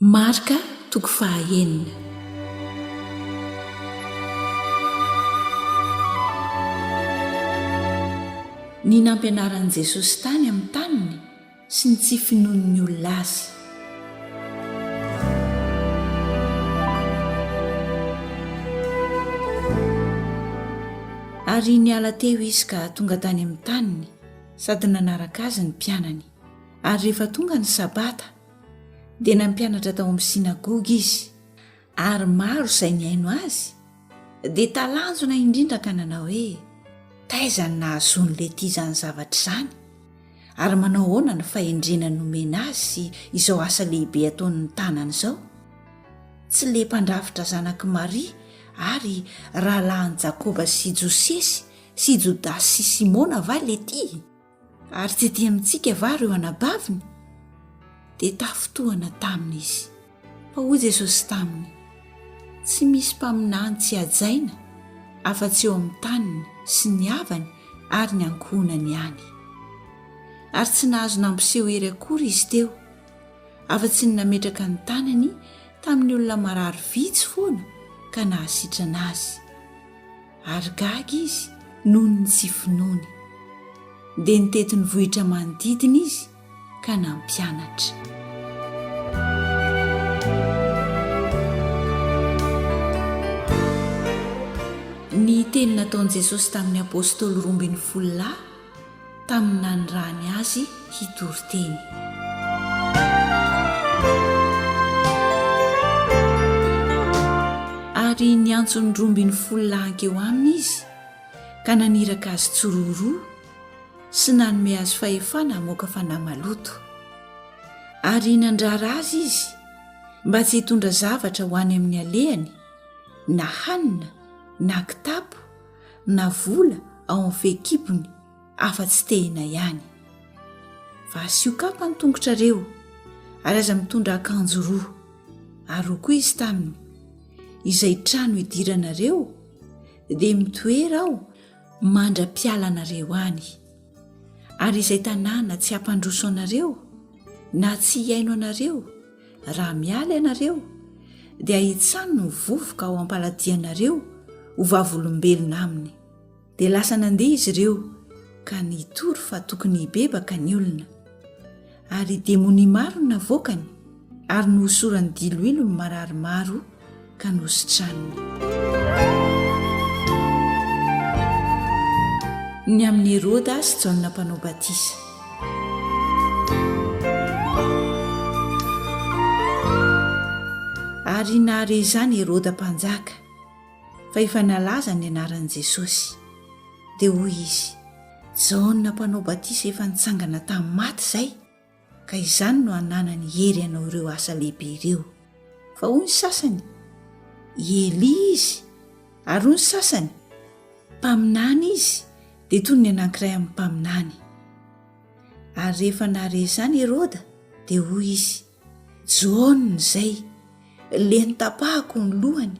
Marc toko faha enina. Ny nampianaran'i Jesosy tany amin'ny taniny sy ny tsy finoan'ny olona Azy. Ary niala teo Izy ka tonga tany amin'ny taniny sady nanaraka Azy ny mpianany. Ary rehefa tonga ny sabata, dia nampianatra tao amin'ny synagoga izy ary maro izay nihaino azy dia talanjona indrindra ka nanao hoe taiza ny nahazoany lety izany zavatra izany ary manao ahoana ny fahendrena nomena azy sy izao asa lehibe ataon'ny tanany izao tsy le mpandrafitra zanak'i maria ary rahalahin'i jakoba sy josesy sy jodasy sy simona va lety Ary tsy dia mitsiky va ireo anabaviny? Dia tafintohana taminy izy. Fa hoy Jesosy taminy, Tsy misy mpaminany tsy hajaina afa-tsy eo amin'ny taniny sy ny havany ary ny ankohonany ihany. Ary tsy nahazo nampiseho hery akory izy teo, afa-tsy ny nametraka ny tanany tamin'ny olona marary vitsy foana ka nahasitrana azy. ary gaga izy noho ny tsy finoany. Dia nitety ny vohitra manodidina izy ka nampianatra. Ny teny nataon'i Jesosy tamin'ny apôstôly roa ambin'ny folo lahy tamin'ny nanirahany azy hitory teny. Ary niantso ny roa ambin'ny folo lahankeo aminy izy ka naniraka azy tsiroaroa sy nanome azy fahefana hamoaka fanahy maloto. Ary nandrara azy izy mba tsy hitondra zavatra ho any amin'ny alehany na hanina na kitapo na vola ao amin'ny fehikibony afa-tsy tehina ihany. Fa asio kapa ny tongotrareo ary aza mitondra akanjo roa. Ary roa koa izy taminy, izay trano idiranareo dia mitoera ao mandra-pialanareo any. Ary izay tanàna tsy hampandroso anareo na tsy hihaino anareo raha miala ianareo, dia hitsano ny vovoka ao am-paladianareo ho vavolombelona aminy. Dia lasa nandeha izy ireo ka nitory fa tokony hibebaka ny olona. Ary demonia maro no navoakany, ary nohosorany diloilo ny marary maro ka nositraniny. Ny amin'i Heroda sy Jaona mpanao batisa. Ary nahare izany Heroda mpanjaka. fa efa nalaza ny anaran'i Jesosy. Dia hoy izy, Jaona Mpanao Batisa efa nitsangana tamin'ny maty izay, ka izany no ananany hery hanao ireo asa lehibe ireo. Fa hoy ny sasany, I Elia izy, ary hoy ny sasany, Mpaminany izy, dia toy ny anankiray amin'ny mpaminany. Ary rehefa nahare izany Heroda, dia hoy izy, John izay, leny tapahako ny lohany,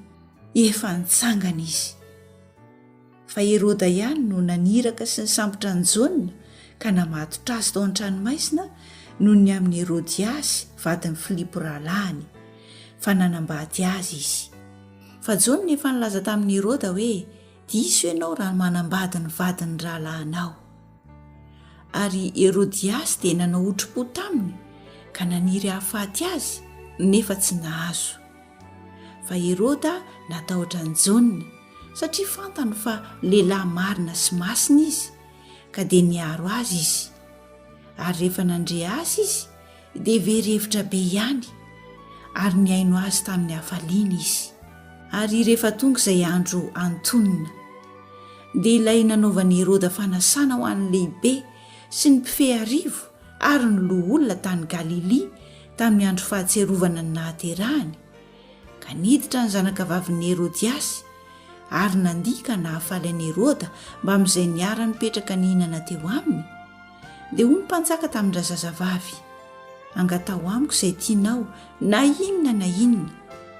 efa nitsangana izy. Fa Heroda ihany no naniraka sy nisambotra an'i John ka namatotra azy tao an-tranomaizina noho ny amin'i Herodiasy vadin'i Filipo rahalahiny, fa nanambady azy izy. Fa John efa nilaza tamin'i Heroda hoe, Diso ianao raha manambady ny vadin'ny rahalahinao. Ary i Herodiasy dia nanao hotrompo taminy ka naniry hahafaty azy, nefa tsy nahazo. Fa Heroda natahotra an'i Jaona, satria fantany fa lehilahy marina sy masina izy, ka dia niaro azy izy. Ary rehefa nandre azy izy, dia very hevitra be ihany ary nihaino azy tamin'ny hafaliana izy. Ary rehefa tonga izay andro antonona, dia ilay nanaovan'i Heroda fanasana ho an'ny lehibe sy ny mpifehy arivo ary ny loholona tany Galilia tamin'ny andro fahatsiarovana ny nahaterahany, ka niditra ny zanakavavin'i Herodiasy ary nandihy ka nahafaly an'i Heroda mbamin'izay niara-nipetraka nihinana teo aminy, Dia hoy ny mpanjaka tamin-drazazavavy, Angataho amiko izay tianao, na inona na inona,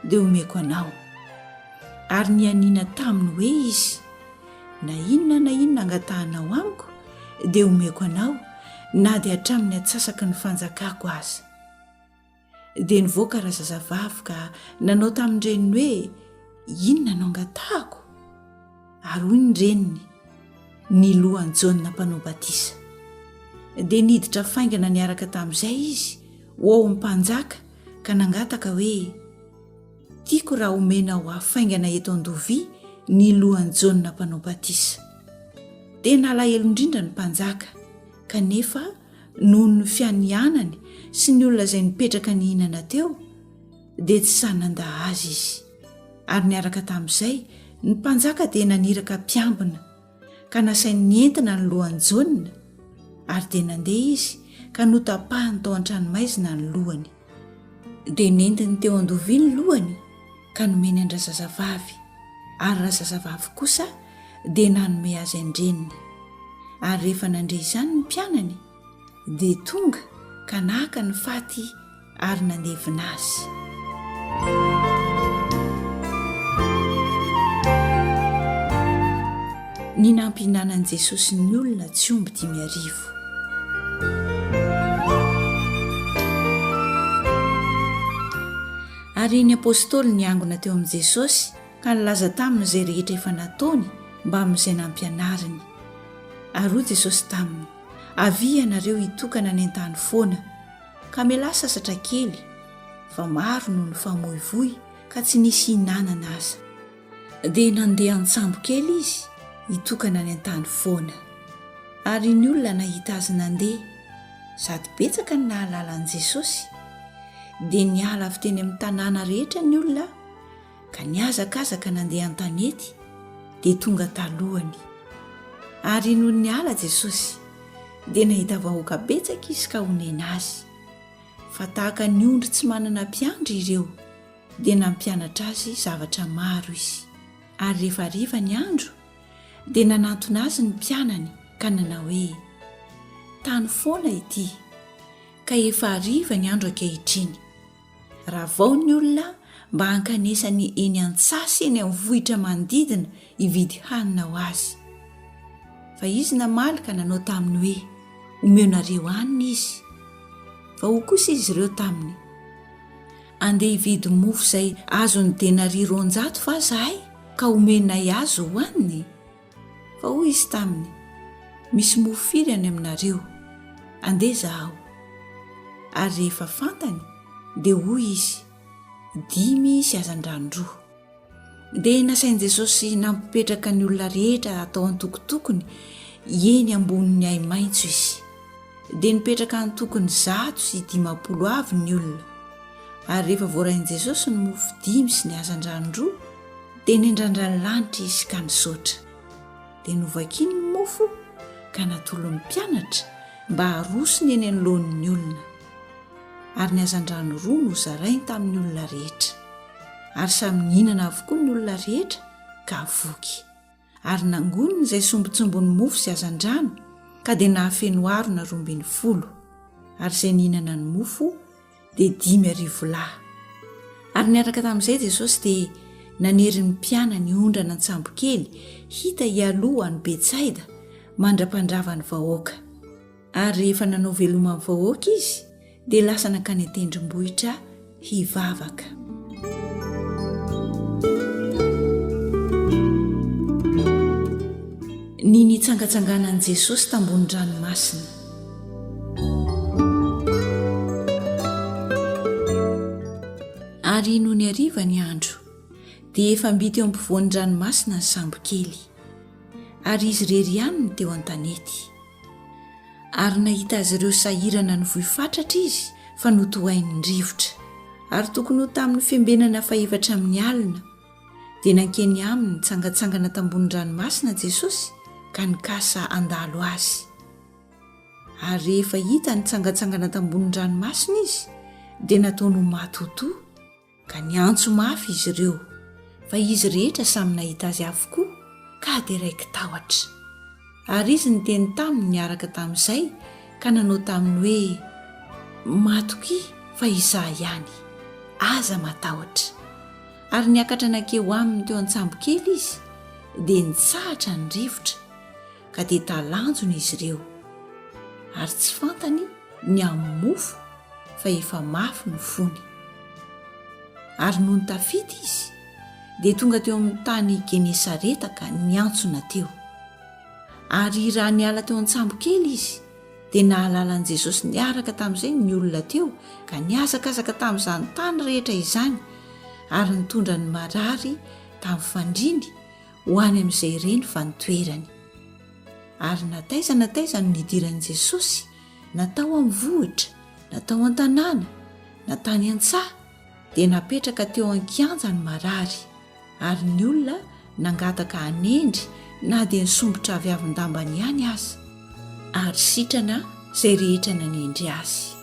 dia homeko anao. Ary nianiana taminy hoe izy, Na inona na inona angatahanao amiko, dia homeko anao, na dia hatramin'ny atsasaky ny fanjakako aza. dia nivoaka razazavavy ka nanao tamin'ny reniny hoe inona no angatahako ary hoy ny reniny ny lohan'i jaona mpanao batisa dia niditra faingana niaraka tamin'izay izy ho ao amin'ny mpanjaka ka nangataka hoe tiako raha homena ho hafaingana eto an-dovia ny lohan'i jaona mpanao batisa tena alahelo indrindra ny mpanjaka kanefa noho ny fianianany sy ny olona izay nipetraka nihinana teo dia tsy sahy nanda azy izy ary niaraka tamin'izay ny mpanjaka dia naniraka mpiambina ka nasainy nientina ny lohany jaona ary dia nandeha izy ka notapahany tao an-tranomaizina ny lohany dia nentiny teo an-dovia ny lohany ka nomeny an-drazazavavy, ary razazavavy kosa dia nanome azy an-dreniny. Ary rehefa nandre izany ny mpianany, dia tonga ka naka ny faty ary nandevina azy. Ny nampihinanan'i Jesosy ny olona tsy omby dimy arivo. Tompo. Ary ny apostoly niangona teo amin'i Jesosy ka nilaza taminy izay rehetra efa nataony mbamin'izay nampianariny. Ary hoy Jesosy taminy, Avia ianareo hitokana any an-tany foana, ka mialà sasatra kely, fa maro no nifamoivoy ka tsy nisy hihinanana aza. Dia nandeha an-tsambo kely izy hitokana any an-tany foana. Ary ny olona nahita azy nandeha, sady betsaka ny nahalala an'i Jesosy. Dia niala avy teny amin'ny tanàna rehetra ny olona ka nihazakazaka nandeha an-tanety, dia tonga talohany. Ary nony niala Jesosy, dia nahita vahoaka betsaka izy ka honena azy, fa tahaka ny ondry tsy manana mpiandry ireo. dia nampianatra azy zavatra maro izy. Ary rehefa hariva ny andro, dia nanantona azy ny mpianany ka nanao hoe, Tany foana ity, ka efa hariva ny andro ankehitriny. Ravao ny olona mba hankanesany eny an-tsasy eny amin'ny vohitra manodidina hividy hanina ho azy. Fa izy namaly ka nanao taminy hoe, Omeonareo hanina izy. Fa hoy kosa izy ireo taminy, Andeha hividy mofo izay azon'ny denaria roanjato va izahay ka homenay azy hohaniny? Fa hoy izy taminy, Misy mofo firy any aminareo? Andeha izaho. Ary rehefa fantany, dia hoy izy, Dimy sy hazandrano roa. dia nasain'i Jesosy nampipetraka ny olona rehetra tao antokotokony eny ambonin'ny ahi-maitso izy. Dia nipetraka antokony zato sy dimampolo avy ny olona. Ary rehefa voarain'i Jesosy ny mofo dimy sy ny hazandrano roa, dia nendrandra ny lanitra izy ka nisaotra. Dia novakiny ny mofo ka natolon'ny mpianatra mba harosony eny anoloan'ny olona. Ary ny hazandrano roa nozarainy tamin'ny olona rehetra. ary samy nihinana avokoa ny olona rehetra ka voky, ary nangoniny izay sombintsombin'ny mofo sy hazandrano ka dia nahafeno harona roa ambin'ny folo, ary izay nihinana ny mofo dia dimy arivo lahy. Ary niaraka tamin'izay Jesosy dia nanery ny mpianany hondrana an-tsambokely hita hialoha any Betsaida mandra-pandrava ny vahoaka. Ary rehefa nanao veloma ny vahoaka izy, dia lasa nankany an-tendrombohitra hivavaka. Ny nitsangatsanganan'i Jesosy tambony ranomasina. Ary nony hariva ny andro, dia efa mby teo am-povoan'ny ranomasina ny sambokely, ary izy irery ihany no teo an-tanety. Ary nahita azy ireo sahirana nivoy fatratra izy fa notohain'ny rivotra. Ary tokony ho tamin'ny fiambenana fahefatra amin'ny alina, dia nankeny aminy nitsangatsangana tambony ranomasina Jesosy ka nikasa handalo Azy. Ary rehefa hita nitsangatsangana tambony ranomasina Izy, dia nataony ho matotoa. ka niantso mafy izy ireo, fa izy rehetra samy nahita azy avokoa ka dia raiki-tahotra. Ary izy niteny taminy niaraka tamin'izay ka nanao taminy hoe, Matokia fa izaho ihany, aza matahotra. Ary niakatra nankeo aminy teo an-tsambokely izy, dia nitsahatra ny rivotra. ka dia talanjona izy ireo, ary tsy fantany ny amin'ny mofo fa efa mafy ny fony. Ary nony tafita izy, dia tonga teo amin'ny tany Genesareta ka niantsona teo. Ary raha niala teo an-tsambo kely izy, dia nahalala an'i Jesosy niaraka tamin'izay ny olona teo, ka nihazakazaka tamin'izany tany rehetra izany, ary nitondra ny marary tamin'ny fandriany, ho any amin'izay reny fa ny toerany. Ary na taiza na taiza no nidiran'i Jesosy, na tao amin'ny vohitra, na tao an-tanàna, na tany an-tsaha, dia napetraka teo an-kianja ny marary, ary ny olona nangataka hanendry na dia ny sombitra aviavin-dambany ihany aza, ary sitrana izay rehetra nanendry azy.